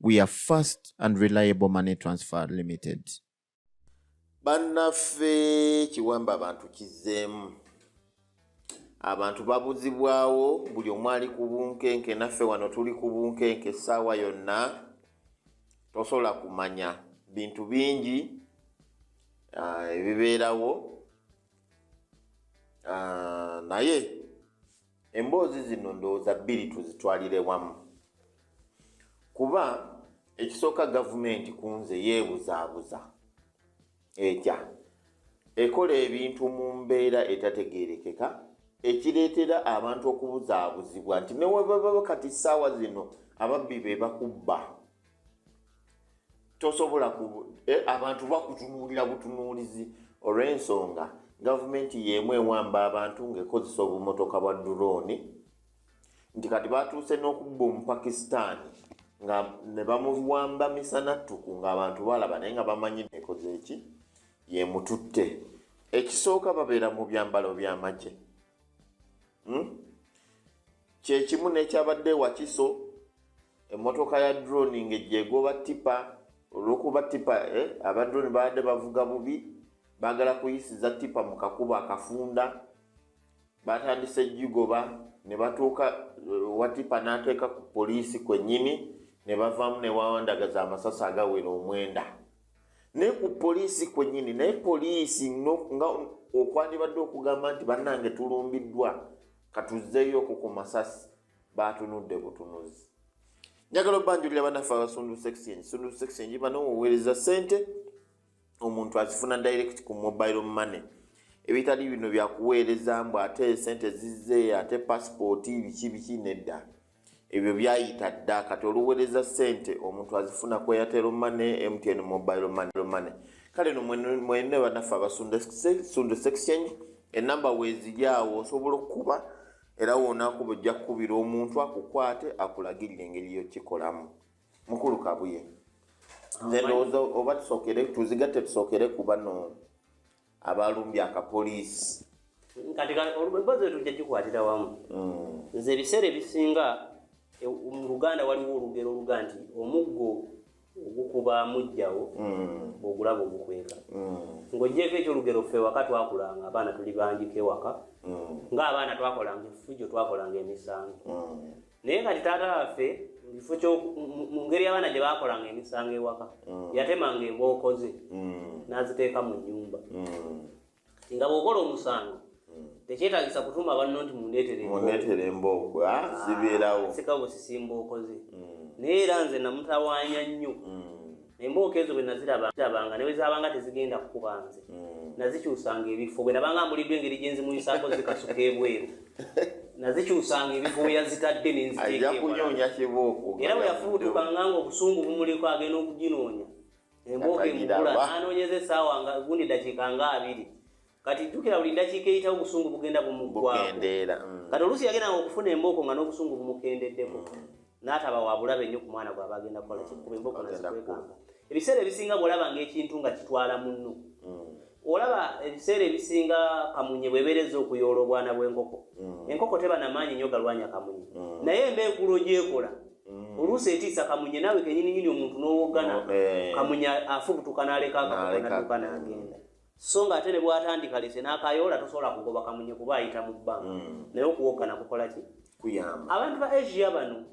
we are fast and reliable money transfer limited bannaffe kiwamba abantu kizzeemu abantu babuzibwawo buli omu ali ku bunkenke naffe wano tuli ku bunkenke essaawa yonna tosobola kumanya bintu bingi ah, ebibeerawo ah, naye Emboozi zino ndowooza bbiri tuzitwalire wamu kuba ekisooka gavumenti ku nze yeebuzaabuza etya ekola ebintu mu mbeera etategeerekeka ekireetera abantu okubuzaabuzibwa nti newebababa kati ssaawa zino ababbi be bakubba tosobola eh, abantu bakutunuulira butunuulizi olw'ensonga gavumenti y'emu ewamba abantu ng'ekozesa obumotoka bwa durooni nti kati batuuse n'okubba omupakistaani nga ne bamuwamba misana ttuku ng'abantu balaba naye nga bamanyi nekoze eki yemututte ekisooka babeera mu byambalo by'amagye hmm? Kyekimu n'ekyabadde e Wakiso, emmotoka ya drone ng'ejja egoba ttipa olw'okuba ttipa eh, aba drone baabadde bavuga bubi baagala kuyisiza ttipa mu kakubo akafunda baatandise gigoba ne batuuka eh, wa ttipa n'ateeka ku poliisi kwennyini ne bavaamu ne wawandagaza amasasi agawera omwenda naye ku poliisi kwennyini naye poliisi nga okwandibadde okugamba nti bannange tulumbiddwa katuzzeeyo ku ku masasi baatunudde butunuzi njagala obanjulira banaffe abasundu section sundu section gibana oweereza sente omuntu azifuna direct ku mobile money ebitali bino byakuweereza mbu ate sente zizze ate passport biki biki nedda ebyo byayita dda kati oluwereza sente omuntu azifuna ku airtel money mtn mobile money kale no mwene banaffe abasunda exchange enamba weziri awo osobola okukuba era wonakuba ojja kukubira omuntu akukwate akulagirira engeri yokikolamu mukulu kabuye nze ndowooza oba tusokere tuzigatte tusokere kubano abalumbye akapoliisi kati emboozi eyo tujja gikwatira wamu mm. nze ebiseera ebisinga e, mu luganda waliwo olugero oluga nti omuggo ogukuba mujjawo mm. ogulaba ogukweka mm. ng'ogyeko ekyolugero ffe waka twakulanga abaana tuli bangiko ewaka ng'abaana twakolanga effujo twakolanga emisango naye kati taata waffe mukifo kyo mu ngeri abaana gye bakolanga emisango ewaka mm. yatemanga embooko ze mm. n'aziteeka mu nnyumba mm. nga bw'okola omusango tekyetagisa kutuma banno nti mundeetere embooko ah, ah, zibeerawo sika bwe sisimbooko ze naye era nze namutawaanya nnyo Embooko ezo bwe nazirabanga ne bwe zaabanga tezigenda kukuba nze hmm. nazikyusanga ebifo bwe nabanga mbuliddwa engeri gye nzimuyisaako zikasuka ebweru nazikyusanga ebifo we yazitadde ne nziteekaekunoonya kibooko era bwe yafubutukanga nga obusungu bumuliko agenda okuginoonya embooko emugula n'anoonyeza essaawa nga gundi dakiika nga abiri kati jukira buli ndakiika eyitawo obusungu bugenda bumukendeera mm. kati oluusi yagendanga okufuna embooko nga n'obusungu bumukendeddeko mm. n'ataba wabulabe nnyo ku mwana gwaba agenda kukola mm. kikuba embooko nazikwekanga ebiseera ebisinga bw'olaba ngaekintu nga kitwala munno olaba ebiseera ebisinga kamunye bwebereza okuyoola obwana bw'enkoko enkoko teba namaanyi nnyo galwanya kamunye naye embeekulo gyekola oluusi etiisa kamunye naawe kenyininyini omuntu n'owoggana eh. kamunye afubutuka n'aleka akakonaduka n'agenda so nga ate ne bwatandika lese n'akayoola tosobola kugoba kamunye kuba ayita mu bba mm. naye okuwogana kukola ki kuyamba abantu ba asia bano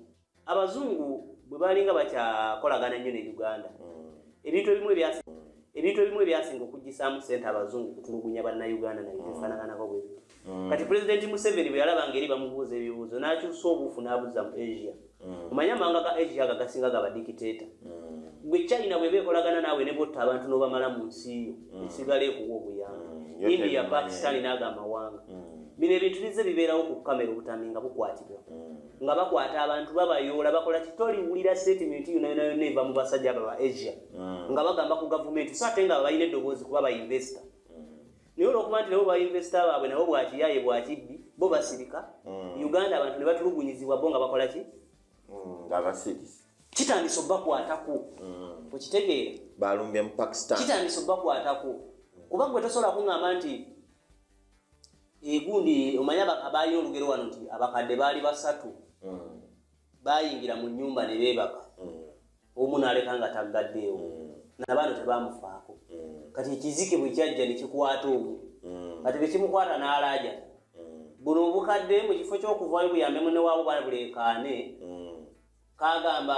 abazungu bwe balinga bakyakolagana ennyo ne uganda mm. ebintu ebimu ebyasi mm. ebintu ebimu ebyasinga okugisaamu sente abazungu kutulugunya bannauganda naye mm. efanananako bwebiti mm. kati pulezidenti museveni bwe yalaba ngeri bamubuuza ebibuuzo n'akyusa obuufu n'abuza mu asia mm. omanya amawanga ga asia aga gasinga ga badikiteeta mm. gwe china bweba ekolagana naawe ne botta abantu n'obamala mu nsi yo esigala ekuwa obuyamba india pakistani n'ago amawanga bino ebintu bizze bibeerawo ku kamera obutambi nga bukwatibwa nga bakwata abantu babayoola bakola kitoliwulira setimenti yonayonayona eva mu basajja abo ba asia nga bagamba ku gavumenti so ate nga balina eddoboozi kuba bainvesita naye olwokuba nti nabo bainvesita baabwe nabo bwakiyaye bwakibbi bo basirika mm. uganda abantu nebatulugunyizibwa bo nga bakola ki mm, nga basirisi kitandisa obakwatako mm. okitegeera balumbye mu pakistan kitandisa obakwatako kuba gwe tosobola kuŋamba nti egundi omanya abaali olugero wano nti abakadde baali basatu bayingira mu nyumba ne beebaka mm. omu naleka nga taggaddeewo mm. nabaano tebamufaako mm. kati ekizike bwe kyajja nekikwata omu kati bwekimukwata n'alaaja buno obukadde mu kifo ky'okuvayo buyambe munewaabo baleekaane kagamba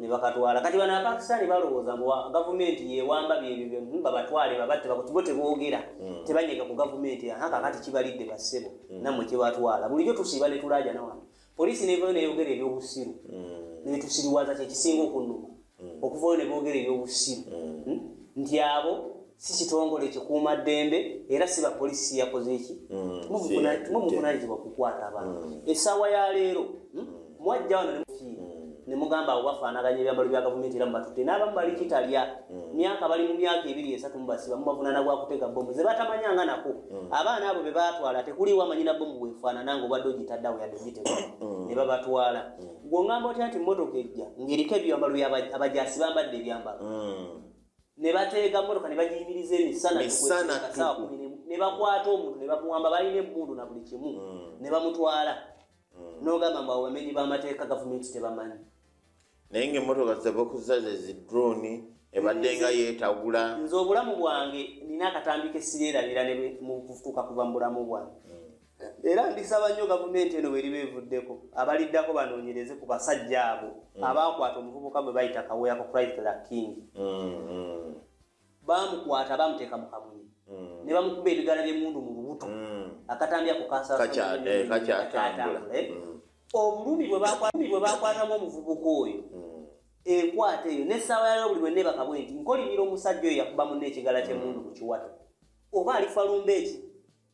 ne bakatwala kati bana Pakistan balowooza mbu gavumenti yewamba byebyo byebyo babatwale babatte bakutibwe tebogera mm. tebanyega ku gavumenti haka kati kibalidde basebo mm. namwe kibatwala bulijjo tusiba ne tulaja na wano polisi nevayo neyogera ebyobusiru mm. netusiriwaza kyekisinga okunuma mm. okuvayo nebogera ebyobusiru mm. hmm? nti abo si kitongole kikuuma ddembe era si bapoliisi siyakoze eki mm, muvunanyizibwa kukwata abantu mm. essaawa ya leero hmm? mm. mwajja wano nemufiira nemugamba abo bafaanaganya ebyambalo bya gavumenti era mubatutte n'abamu bali kitalya myaka bali mu myaka ebiri esatu mubasiba mubavunana gwa kutega bomu ze batamanya nga nako abaana abo be batwala tekuliwo amanyina bomu bwefaanana nga obadde ogitaddawo yadde ogitega ne babatwala gwongamba otya nti mmotoka ejja ng'eriko ebyambalo abajaasi bambadde ebyambalo ne bateega mmotoka ne bagiyimiriza emisana ne bakwata omuntu ne bamuwamba balina emmundu na buli kimu hmm. ne bamutwala hmm. n'ogamba mbu abamenyi b'amateeka gavumenti tebamanyi naye ngaemmotoka zebakuza zezidroni ebadde nga yeetagula nze obulamu bwange nina akatambi kesireerabira mu kutuuka kuva mu bulamu bwange hmm. era ndisaba nnyo gavumenti eno bweriba evuddeko abaliddako banoonyereze ku basajja abo mm. abaakwata omuvubuka gwe bayita kaweya ku chrysler king mm-hmm. bamukwata bamuteeka mu kamunye mm. ne bamukuba ebigala by'emundu mu lubuto mm. akatambi ako kasaakakyatambula eh, eh? obulumi bwe bakwatamu omuvubuka oyo ekwata eyo n'essaawa yaleo buli bwe nebakabwe nti nkolimira omusajja oyo yakuba munne ekigala ky'emundu ku kiwato oba alifa lumba eki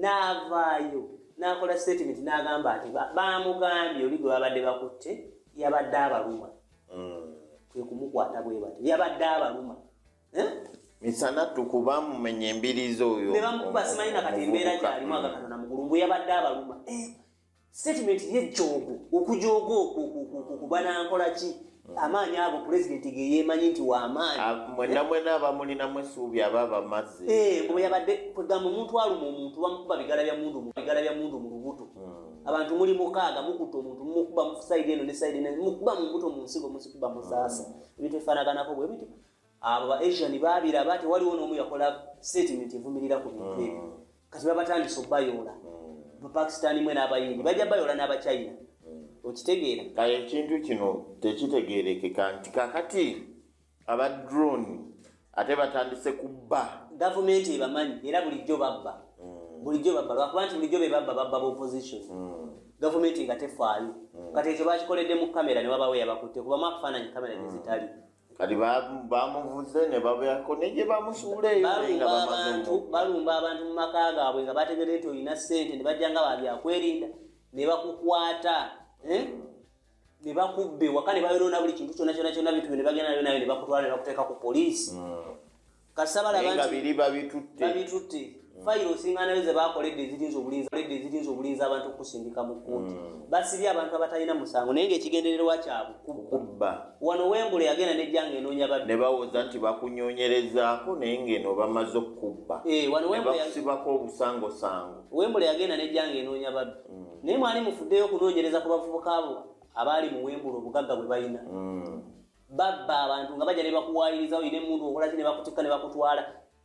n'avaayo n'akola sitatimenti n'agamba nti baamugambye oli gwe babadde bakutte yabadde abaluma hmm. kwe kumukwata bwe batyo yabadde abaluma eh? misana tukuba mumenya embirizi oyo ne bamukuba simanyi na kati embeera gyalimu agakatona mugulu mbu yabadde abaluma eh? statement ye jogo okujogo okubana nkola ki amaanyi ago pulezidenti ge yeemanyi nti waamaanyi ah, mwena mwena abamulinamu esuubi aba bamazzi eh, mbu yabadde kwegamba omuntu aluma omuntu bamukuba bigala bya mundu bigala bya mundu mu lubuto hmm. abantu muli mukaaga mukuta omuntu mukuba musaidi eno ne saidi ne mukuba mu mbuto mu nsigo musikuba musaasa hmm. ebintu ebifaanaganako bwe bityo abo ba asian baabiraba tewaliwo n'omu yakola statement evumirira ku bintu ebyo hmm. kati babatandise okubayoola bapakistani mwe n'abayindi bajja bayoola n'abachina okitegeera kale ekintu kino tekitegeerekeka nti kakati aba drone ate batandise kubba gavumenti ebamanyi era bulijjo babba mm. bulijjo babba lwakuba nti bulijjo bebabba babba baopposition mm. gavumenti nga tefaayo mm. kati ekyo bakikoledde mu kamera newabawo yabakutte kubamu akufaananyi kamera nezitali kati bamuvuze ne babyako ne gye bamusuula eyo balumba abantu mu maka gaabwe nga bategere nti olina ssente ne bajja nga babyakwerinda ne bakukwata eh? ne bakubba ewaka ne bayonoona buli kintu kyona kyona kyona bintu byo ne bagenda nayo nayo ne bakutwala ne bakuteeka ku poliisi hmm. naye nga biri babitutte babitutte mm. fayiro osinga nayo ze bakoledde ezirinza obulinzi koledde ezirinza obulinzi abantu okusindika mu kkuuti mm. basibye abantu abatalina musango naye ng'ekigendererwa kyabwe kubba wano wembula yagenda nejjanga enoonya babbi ne bawoza nti bakunyonyerezaako naye ng'eno bamaze okukubba eh, nebakusibako obusangosango wembula yagenda nejjanga enoonya babbi mm. naye mwali mufuddeyo okunoonyereza ku bavubuka abo abaali mu wembula obugagga bwe balina babba abantu nga baja nebakuwayiriza oyina emundu okolaki nebakutikka nebakutwala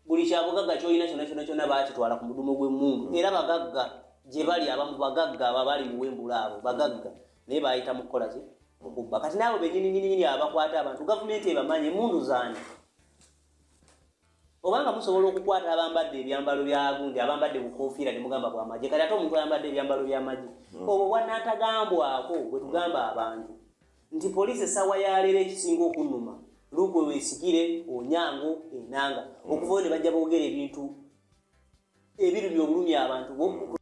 buli kyabugagga kyolina kyona kyona kyona bakitwala ku mudumu gwemundu era bagagga gyebali abamu bagagga abo abali muwembula abo bagagga naye bayita mukukolaki mukubba kati naabo benyininyininyini abakwata abantu gavumenti ebamanyi emundu zani obanga musobola okukwata abambadde ebyambalo byagundi abambadde bukofiira nemugamba bwamaje kati ate omuntu ayambadde ebyambalo byamaje hmm. obwo bwanatagambwako bwetugamba abantu Nti poliisi essaawa ya leero ekisinga okunnuma lukwe wesigire onyango enanga okuvayo ne bajja boogera ebintu ebirumi obulumi abantu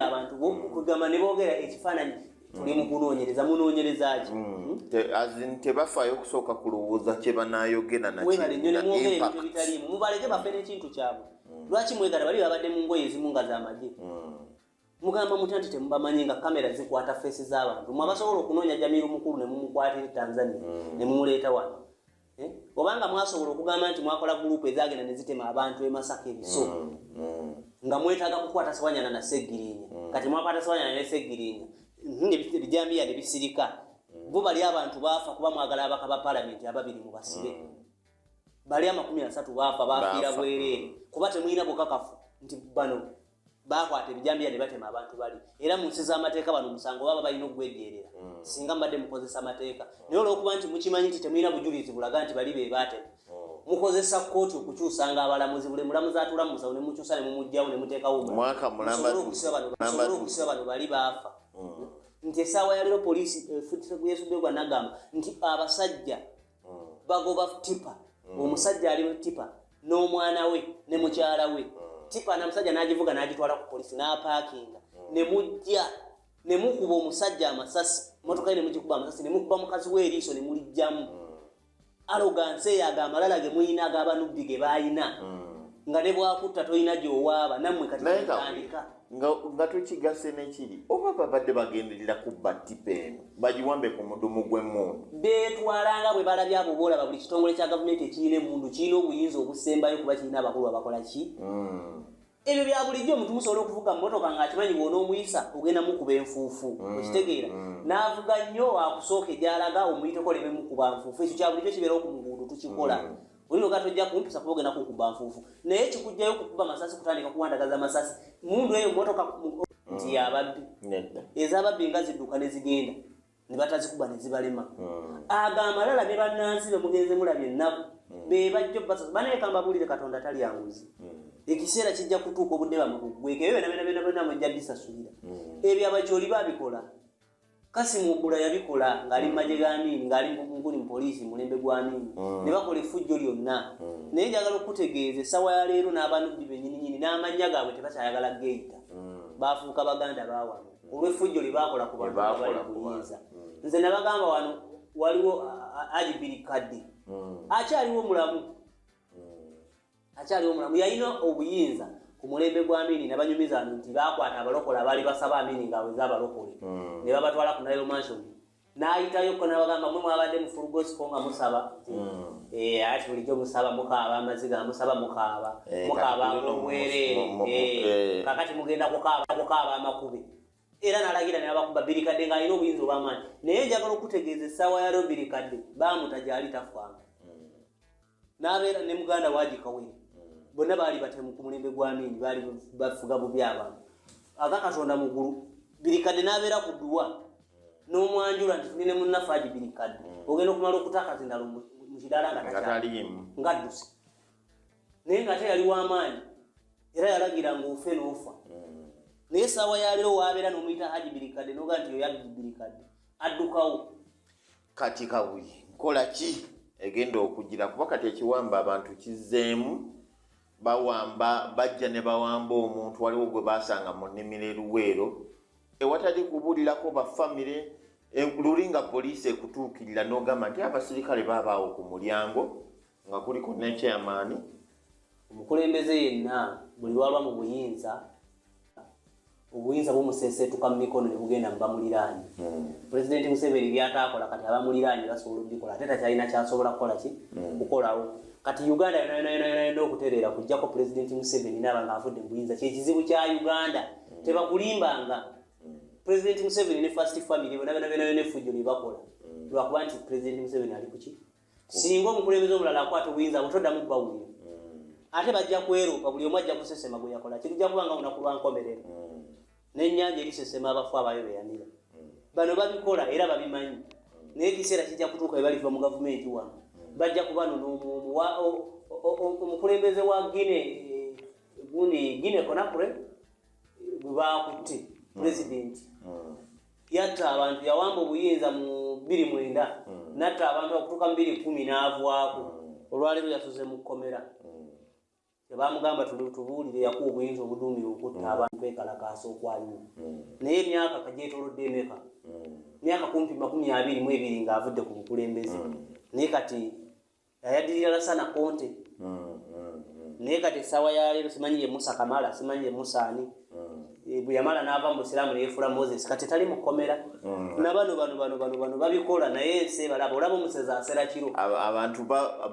abantu kugamba ne boogera ekifaananyi tuli mu kunoonyereza munoonyereza ki hmm. hmm? tebafaayo okusooka kulowooza kye banaayogera nakimubaleke bafe n'ekintu kyabwe hmm. lwaki mwegala bali babadde mu ngoye ezimu nga z'amagye mugamba mutya nti temubamanyi nga kamera zikwata feesi z'abantu mwe abasobola okunoonya jamiru mukulu ne mumukwatira tanzania mm. ne mumuleeta wano eh? obanga mwasobola okugamba nti mwakola gurupu ezagenda ne zitema abantu e masaka ebiso mm, mm. nga mwetaaga kukwata sewanyana na segirinya kati mwakwata sewanyana ne segirinya ebijambiya ne bisirika bo bali abantu baafa kuba mwagala abaka ba palamenti ababiri mu basibe bali amakumi asatu baafa bafiira bwereere kuba temulina bukakafu nti bano bakwata ebijambiya ne batema abantu bali era mu nsi z'amateeka bano omusango baba balina okugwejeerera mm. singa mbadde mukozesa amateeka mm. naye olwokuba nti mukimanyi nti temulina bujulizi bulaga nti bali be baatema mm. mukozesa kkooti okukyusanga abalamuzi buli mulamuzi atula mu musawo ne mukyusa ne mumugjawo ne muteekawo musobole okusiba bano bali baafa nti esaawa yaleero poliisi efutiseguyesuddegwa nagamba nti abasajja bagoba tipa mm. omusajja ali mutipa n'omwana we ne mukyala we mm. tipa namusajja n'agivuga n'agitwala ku polisi n'apaakinga mm. ne mujja ne mukuba omusajja amasasi motoka ye ne mugikuba amasasi ne mukuba mukazi we eriiso ne mulijjamu alogansi eyo ago amalala ge mulina ag'abanubbi ge baalina nga ne bwakutta tolina gy'owaaba nammwe kati mutandika nga tukigase nekiri oba babadde bagenderera kubba tipa eno bagiwambe ku mudumu gw'emmundu beetwala nga bwe balabye abo boolaba buli kitongole kya gavumenti ekirina emmundu kirina obuyinza obusembayo kuba kirina abakulu abakola ki hmm. ebyo bya bulijjo omuntu musobola okuvuga mmotoka ng'akimanyi bwona omuyisa ogenda mukuba enfuufu hmm. okitegeera hmm. n'avuga nnyo akusooka egyalaga omuyiteko lememukuba nfuufu ekyo kya bulijjo kibeerawo ku mugundu tukikola Wino gato ja kumpusa kuboge na kukuba mfufu. Na yechi kujja yo kukuba masasi kutandika kuwanda gaza masasi. Mundu eyo moto ka ndi ya babi. Nenda. Eza babi ngazi duka ne zigenda. Ni batazi kuba ne zibalema. Mm. Aga amalala be bananzi be mugenze mula bye na. Mm. Be bajjo basa. Bana ye kamba buli le katonda tali ya nguzi. Mm. Ekisera kijja kutuko budde ba mugwe. Ke yo na bena bena bena mujja disasubira. Mm. Ebi abacholi babikola. Kasim Obura yabikola ng'ali mu magye g'amiini ng'ali mukuli mu poliisi mulembe gw'amiini mm. ne bakola effujjo lyonna mm. naye njagala okukutegeeza essawa ya leero n'abanubbi benyininyini n'amannya gaabwe tebakyayagala geeyita mm. baafuuka baganda baawano olw'effujjo lye baakola ku bantu abali kuyinza nze nabagamba wano waliwo ajibiri kadde akyaliwo mulamu akyali omulamu yalina obuyinza ku mulembe gwa mini nabanyumiza bantu nti bakwata abalokole abaali basaba amini ngaaweza abalokole hmm. ne babatwala ku nile mansion n'ayitayo ko nabagamba mwe mwabadde mufulugosiko nga musaba hmm. eh, ati bulijjo musaba mukaaba amaziga amusaba mukaaba eh, mukaaba ngobwereere eh, kakati mugenda kukaaba amakube era nalagira nebabakuba birikadde ng'alina obuyinza obwamaanyi naye njagala okutegeeza essaawa ya leo birikadde baamuta gyali tafwanga n'abeera ne muganda waagi kawere hmm. bonna baali batemu ku mulembe gw'amiini baali bafuga bubi abantu aga katonda mugulu birikadde n'abeera ku dduwa n'omwanjula nti tuli ne munnaffe agi birikadde hmm. ogenda okumala okutakazindalo mu kidaala ngataliimu ngadduse naye nga ate yali w'amaanyi era yalagira ng'ofe n'ofa hmm. naye esaawa yaleero waabeera n'omuyita haji birikadde noga nti yoyo abibirikadde addukawo kati kabuye nkola ki egenda okugira kuba kati ekiwamba abantu kizeemu bawamba bajja ne bawamba omuntu waliwo gwe basanga mu nnimiro eruweero ewatali kubulirako bafamire e, luli nga poliisi ekutuukirira n'ogamba nti abasirikale babaawo ku mulyango nga kuliko nekyamaani omukulembeze yenna buli lwalwa mu buyinza obuyinza bumuseseetuka mu mikono ne bugenda mu bamuliraanye hmm. pulezidenti museveni byataakola kati abamuliraanye basobola okubikola ate takyalina kyasobola kukola ki hmm. kukolawo kati uganda yonayonayonayona okutereera kujjako pulezidenti museveni naaba nga avudde mu buyinza kyekizibu kya uganda hmm. tebakulimbanga pulezidenti museveni ne fast family bona byona byona byona efujjo lyebakola lwakuba nti pulezidenti museveni ali kuki singa omukulembeze omulala akwata obuyinza abo toddamu kubawulira hmm. ate bajja kweruupa buli omu ajja kusesema gwe yakola kirija kuba nga lunaku lwa nkomerero hmm. n'ennyanja erisesema abafu abayo beyanira hmm. bano babikola era babimanyi naye ekiseera kijja kutuuka ebaliva mu gavumenti wano bajja kubano omukulembeze wa gine eh, gundi gine konakure gwe baakutte pulezidenti Yatta abantu, yawamba obuyinza mu bbiri mwenda natta abantu bakutuuka mu bbiri kumi n'avwako. Olwaleero yasuze mu kkomera. Tebaamugamba tubuulire yakuwa obuyinza obuduumiwe okutta abantu kwekalakaasa okwaliwo. Naye emyaka kagyetolodde emeka? Emyaka kumpi makumi abiri mu ebiri ng'avudde ku bukulembeze. Naye kati. yayadirira lasana konte mm, mm, mm. naye kati esawa yaleero simanyi ye musa kamala simanyi ye musa ani eh, bweyamala nava mu busiraamu neyefula moses kati tali mukomera nabano bano bano bano bano babikola naye ensi ebalaba olaba omusezi asera kiro abantu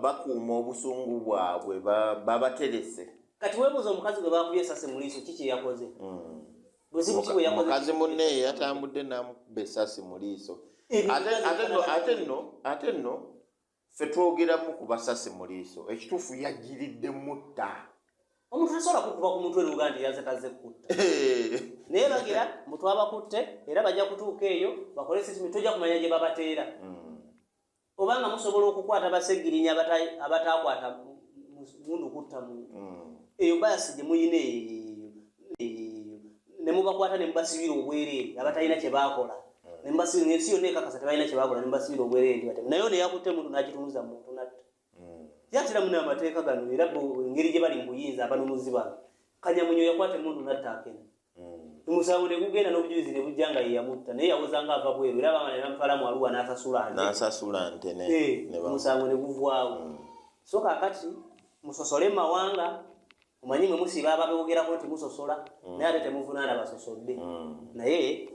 bakuuma obusungu bwabwe babaterese kati webuuza omukazi gwe bakubye esasi muliiso ki kyeyakoze buzibu ki bweyakoze mukazi munne yatambudde namukuba esasi muliiso ate no ate no ffe twogeramu ku basasi mu liiso ekituufu yajjiridde mutta omuntu tasobola kukuba ku mutwe nuga nti yaze taze kukutta naye bagira mbu twabakutte era bajja kutuuka eyo bakole sitimi tojja kumanya gye babateera hmm. obanga musobola okukwata basegirinya abataakwata mundu kutta muntu hmm. eyo bayasi gye muyina eyo ne mubakwata ne mubasibira obwereere abatalina kye baakola ne mubasibira ng'ensi yonna ekakasa tebalina kye baakola ne mubasibira obwereere ndi batemu naye ono eyakutte muntu n'agitunuza mu muntu natta hmm. yatera muna amateeka gano era engeri gye bali mu buyinza abanunuzi bano kanyamunyo yakwata emundu natta akena hmm. omusango ne gugenda n'obujulizi ne bujja nga ye yamutta naye yawozanga ava bweru era bamala ne bamutwala mu aluwa n'asasula nte n'asasula nte ne eh, omusango ne guvwawo hmm. so kakati musosole mawanga omanyi mwe musiba ababewogerako nti musosola mm. naye ate temuvunaana basosodde mm. naye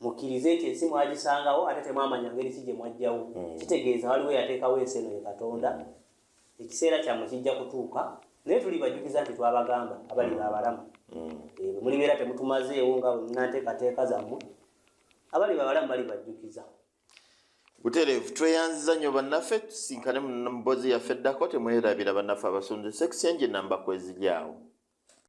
mukkirize nti ensi mwagisangawo ate temwamanya ngeri ki gye mwajjawo mm. kitegeeza waliwo yateekawo ensi eno ye katonda ekiseera kyammwe kijja kutuuka naye tuli bajjukiza nti twabagamba abali babalamu eh, mulibeera temutumazeewo nga nanteekateeka zammwe abali babalamu bali bajjukiza butereevu tweyanziza nnyo bannaffe tusinkane mu mbozi yaffe eddako temwerabira bannaffe abasonze sekisenje namba kweziryawo